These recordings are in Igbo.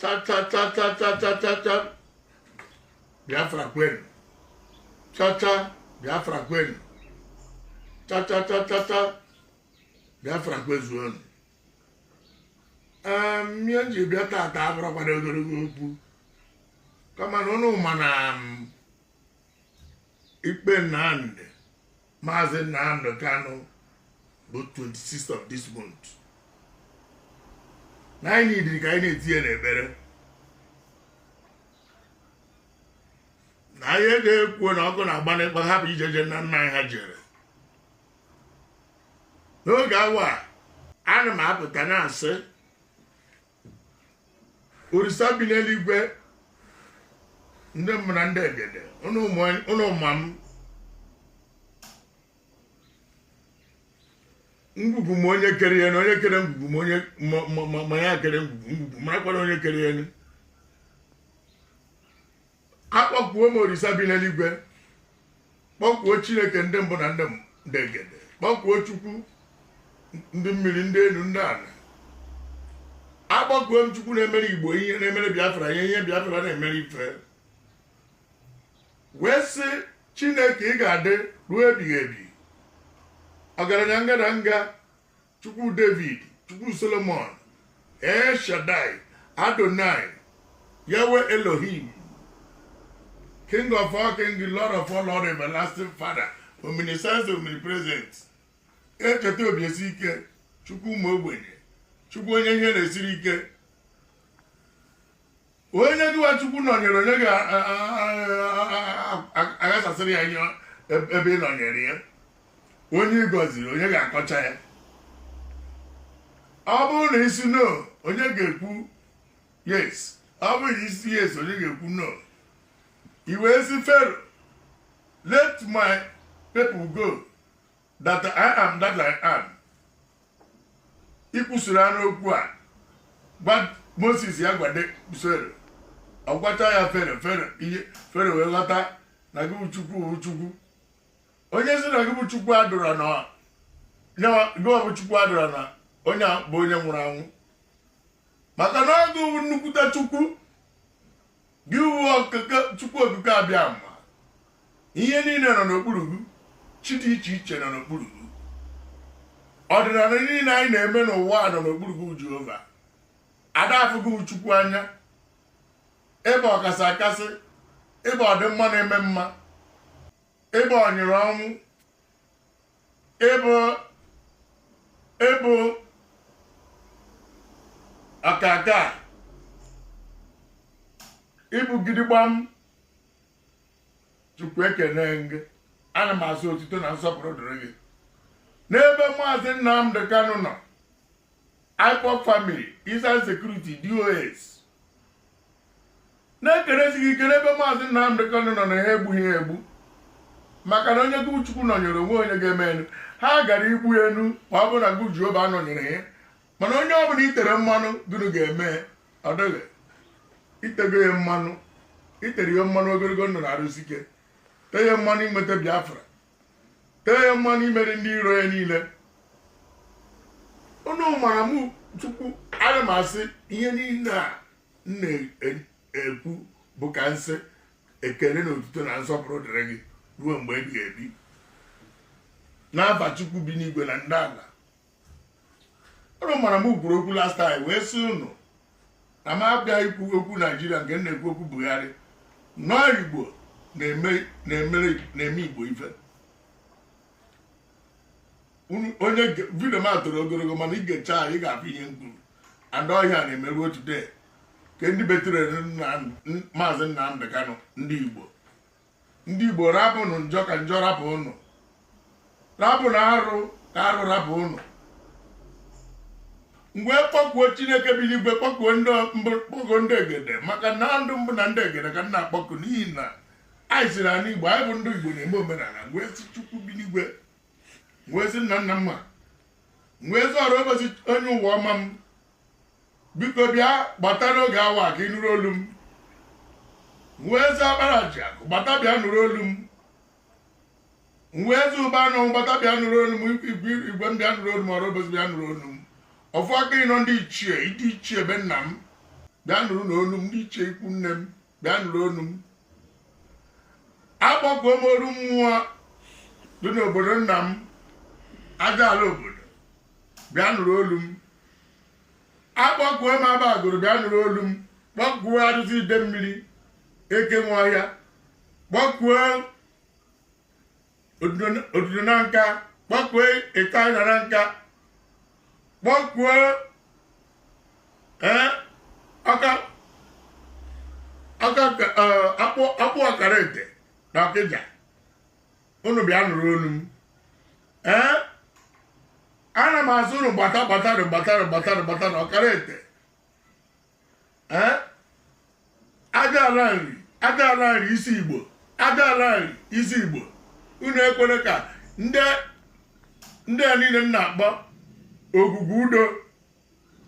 chachachachachachachacha biafra kwenu chacha biafra kwenu chachachachacha biafra kwezuonu Em, ihe m ji bịa tata abụrụkwara ogologo okwu kama na ụnụ ma na m, ikpe nnamdị Maazị Nnamdi Kanu bụ 26 of this month na anyị dịrị ka anyị na-etinye n'ekpere na anyị ga-ekwu na ọkụ na-agba n'ịkpa hapụ ijeje nna nna anyị ha jere n'oge awa a ana m apụta na-asị orisa bi n'eluigwe ndị mbụ na ndị egede ụnụ ụmụ- ụnụ ma m ngwugwu ma onye kere ya na onye kere ngwugwu ma onye ma- ma- ma- ma ya kere ngwugwu ngwugwu marakwara onye kere ya akpọkuo m orisa bi n'eluigwe kpọkuo chineke ndị mbụ na ndị m- ndị egede kpọkuo chukwu ndị mmiri ndị enu ndị ana akpọkuo m chukwu na-emere igbo ihe na-emere biafra ihe ihe biafra na-emere ife wee sị chineke ị ga-adị ruo ebighị ebi ọgaranya ngadanga chukwu david chukwu solomon el shaddai adonai yahweh elohim king of all king lord of all lord everlasting father omniscience omnipresent echeta obi esi ike chukwu ụmụ ogbenye chukwu onye ihe na-esiri ike onye gịwa chukwu nọnyere onye ga-aghasasịrị ya ihe ebe ị nọnyere ya onye ị gọziri onye ga-akọcha ya ọ bụrụ na ị sị no onye ga-ekwu yes ọ bụrụ na ị sị yes onye ga-ekwu no i wee sị fero let my people go that I am that I am i kwusịrị ọnụ okwu a gwa Moses ya gwade Fero ọ gwata ya Fero Fero ihe Fero wee ghọta na gị bụ Chukwu bụ Chukwu onye sị na gị bụ Chukwu adịrọ na gị bụ Chukwu adịrọ na onye bụ onye nwụrụ anwụ maka na ọ gị nnukwute Chukwu gị wụ chukwu okike abịama ihe niine nọ n'okpuru gị chi dị iche iche nọ n'okpuru gị ọdịnana niine anyị na-eme n'ụwa nọ n'okpuru gị Jehova ada afụ gị wụ chukwu anya ị bụ ọkasị akasị ị bụ ọdịmma na-eme mma ị bụ ọnyịrị ọnwụ ị bụ ị bụ ọkaka ị bụ gidigbam chukwu ekene m gị ana m asị otito na nsọpụrụ dịrị gị n'ebe maazị nnamdị kanụ nọ ipob family eastern security dos na-ekelesi gị ike n'ebe maazị Nnamdị Kanu nọ na ha egbughị ya egbu maka na onye gị Chukwu nọnyere o nwe onye ga-emenwu ha gara igbu ya nụ ma ọ bụrụ na gị Jehova nọnyere ya mana onye ọ bụla i tere mmanụ gịnị ga-eme ọ dịghị i tego ya mmanụ i tere ya mmanụ ogologo ndụ na arụ isi ike tee ya mmanụ inweta Biafra tee ya mmanụ imeri ndị iro ya niile unu mara m chukwu ana m asị ihe niile a na-ekwu bụ ka m sị ekele na otuto na nsọpụrụ dịrị gị ruo mgbe ebighị ebi n'afa chukwu bi n'igwe na ndị ala ụnụ mara m kwuru okwu last time wee sị ụnụ na m abịa ikwu okwu naijiria nke m na-ekwu okwu buhari no igbo na-eme igbo ife onye vidio m toro ogologo mana i gecha ị ga-afụ ihe m kwuru and ọ ihe a na-eme ruo today ka ndị betrayrụ maazị Nnamdi Kanu ndị igbo ndị igbo rapụnụ njọ ka njọ rapụ ụnụ rapụnụ arụ ka arụ rapụ ụnụ m wee kpọkuo chineke bi n'igwe kpọkuo ndị mbụ kpọkuo ndị egede maka na ndị mbụ na ndị egede ka m na-akpọku n'ihi na anyị siri anị igbo anyị bụ ndị igbo na-eme omenala wee sị chukwu bi n'igwe wee sị nna nna mma wee sị orie ụbọchị onye ụwa ọma m biko bịa gbata n'oge a wa ka ị nụrụ olu m wee sị agbara ji akụ gbata bịa nụrụ olu m wee sị ụba anụ gbata bịa nụrụ olu m igwe igwe m bịa nụrụ olu m orie ụbọchị bịa nụrụ olu m ọfụ aka ịnọ ndị ichie ndị ichie be nna m bịa nụrụnụ olu m ndị ichie ikwu nne m bịa nụrụ olu m akpọkuo m oru mmụọ dị n'obodo nna m aja ala obodo bịa nụrụ olu m akpọkuo m haba agụlụ bịa nụrụ olu m kpọkuo arụsị ide mmiri eke nwe ọhịa kpọkuo ududo nanka kpọkue ịta ịda nanka kpọkue ee aka aka akpụ akpụ ọkara ete na ọkịja unu bịa nụrụ olu m ee ana m asị unu gbata gbata gbata gbata gbata na ọkara ete ee aja ala nri aja ala nri isi igbo aja ala nri isi igbo unu ekwere ka ndị ndị a niile m na-akpọ ogwugwu udo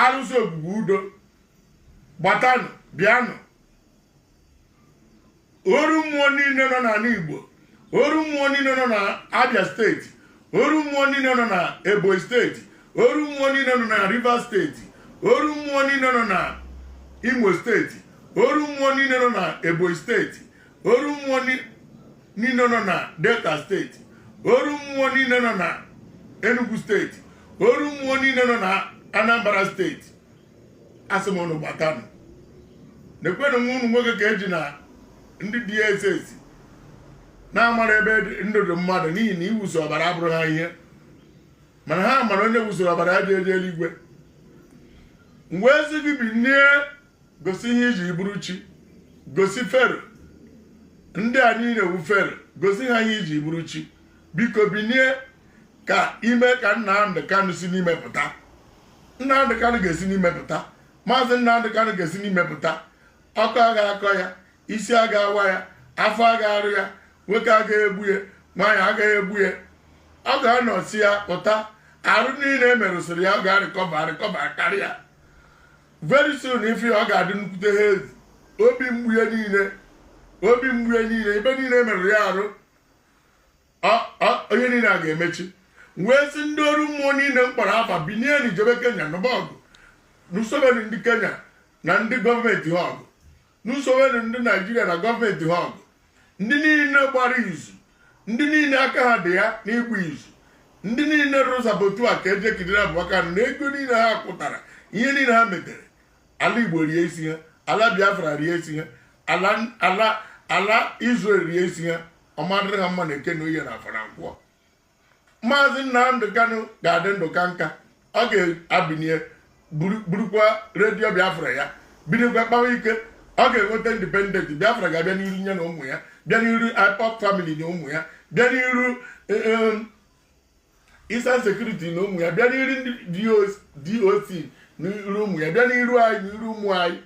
arụsị ogwugwu udo gbatanụ bịanụ oru mmụọ niile nọ n'ala Igbo oru mmụọ niile nọ na Abia steeti oru mmụọ niile nọ na Ebonyi steeti oru mmụọ niile nọ na Rivers steeti oru mmụọ niile nọ na Imo steeti oru mmụọ niile nọ na Ebonyi steeti oru mmụọ niile nọ na Delta steeti oru mmụọ niile nọ na Enugu steeti oru mmụọ niile nọ na Anambra steeti asị m unu gbatanụ nekwenụ nwa unu nwoke ka eji na ndị DSS na-amara ebe ndụ dị mmadụ n'ihi na iwuso ọbara abụrụ ha ihe mana ha mara onye wusoro ọbara adị eje eluigwe m wee sị gị binie gosi ihe i ji bụrụ chi gosi fero ndị a niile wu fero gosi ha ihe i ji bụrụ chi biko binie ka i me ka Nnamdi Kanu si n'ime pụta Nnamdị Kanụ ga-esi n'ime pụta maazị Nnamdị Kanụ ga-esi n'ime pụta ọkọ aga akọ ya isi aga awa ya afọ aga arụ ya nwoke aga egbu ya nwaanyị aga egbu ya ọ ga-anọsịa pụta arụ niile e merụsịrị ya ọ ga-arịkọba arịkọba karịa very soon ife ọ ga-adị nnukwute ha ezi obi mgbu ya niile obi mgbu ya niile ebe niile e merụrụ ya arụ ọnya niile a ga-emechi m wee sị ndị ọrụ mmụọ niile m kpọrọ afa binienụ jebe kenya nụba ọgụ nụsobenụ ndị kenya na ndị gọọmenti ha ọgụ nụsobenụ ndị naijiria na gọọmenti ha ọgụ ndị niile gbara izu ndị niile aka ha dị ya n'ịgba izu ndị niile rụrụ saboteur ka eje kidnapụ ya na ego niile ha kụtara ihe niile ha metere ala igbo rie isi ha ala biafra rie isi ha ala ala ala Israel rie isi ha ọ ma-adịrị ha mma na eke na oye na afọ na nkwọ maazị Nnamdị Kanụ ga-adị ndụ ka nka ọ ga-ebinie burukwa redio Biafra ya binikwa kpawa ike ọ ga-enweta indipendenti Biafra ga-abịa n'iru ya na ụmụ ya bịa n'iru IPOB famili na ụmụ ya bịa n'iru um, Eastern Security na ụmụ ya bịa n'iru ndị DOC n'iru ụmụ ya bịa n'iru anyị n'iru ụmụ anyị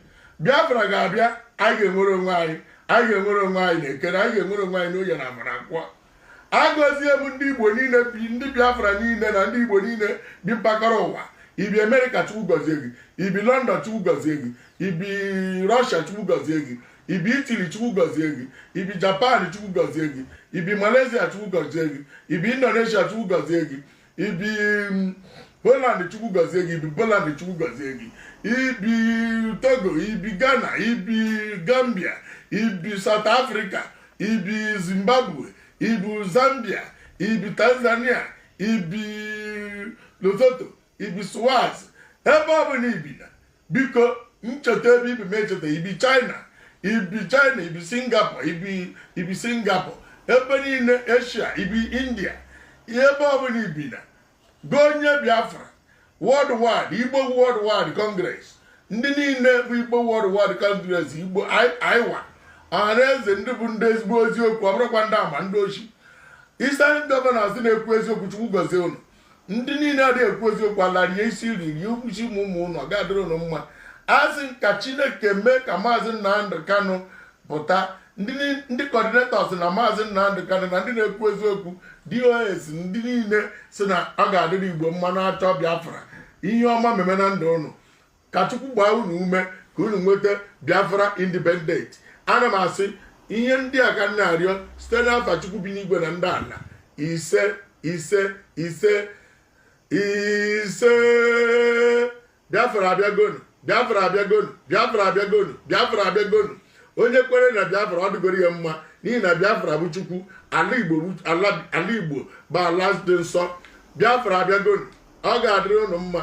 Biafra ga-abịa anyị ga-enwere onwe anyị anyị ga-enwere onwe anyị na eke anyị ga-enwere onwe anyị n'oye na afọ na nkwọ agọzie m ndị Igbo niile bi ndị Biafra niile na ndị Igbo niile bi mpaghara ụwa i bi Amerịka Chukwu gọzie gị i bi London Chukwu gọzie gị i bi Russia Chukwu gọzie gị ibi italy chukwu gọzie gị ibi japan chukwu gọzie gị ibi malaysia chukwu gọzie gị ibi indonesia chukwu gọzie gị ibi mm, holland chukwu gọzie gị ibi poland chukwu gọzie gị ibi togo ibi ghana ibi gambia ibi south africa ibi zimbabwe ibi zambia ibi tanzania ibi lesotho ibi swaz ebe ọ bụla ibi na biko ncheta ebe ibi m echeta ibi china ibi china ibi singapore ibi singapore ebe niile asia ibi india ebe ọbụla ibi na gị onye biafra worldwide igbo worldwide congress ndị niile bụ igbo worldwide congress igbo aiwa ọhaneze ndị bụ ndị ezigbo eziokwu ọ bụrụkwa ndị ama ndị ochi eastern governors na-ekwu eziokwu chukwu gọzie unu ndị niile adịghị ekwu eziokwu ala rie isi rie ukwuchi ụmụ unu ọ ga-adịrị unu mma asị m ka chineke mee ka maazị nnamdi kanu pụta ndị coordinators na maazị nnamdi kanu na ndị na-ekwu eziokwu dos ndị niile si na ọ ga-adịrị igbo mma na-achọ biafra ihe ọma meme na ndụ unu ka chukwu gbaa unu ume ka unu nweta biafra independent ana m asị ihe ndị a ka m na-arịọ site n'afa chukwu bi n'igwe na ndị ala ise ise ise ise biafra abịagonu biafra abịagonu biafra abịagonu biafra abịagonu onye kwere na biafra ọ dịgoro ya mma n'ihi na biafra bụ chukwu ala igbo bụ ala dị nsọ biafra abịagonu ọ ga-adịrị unu mma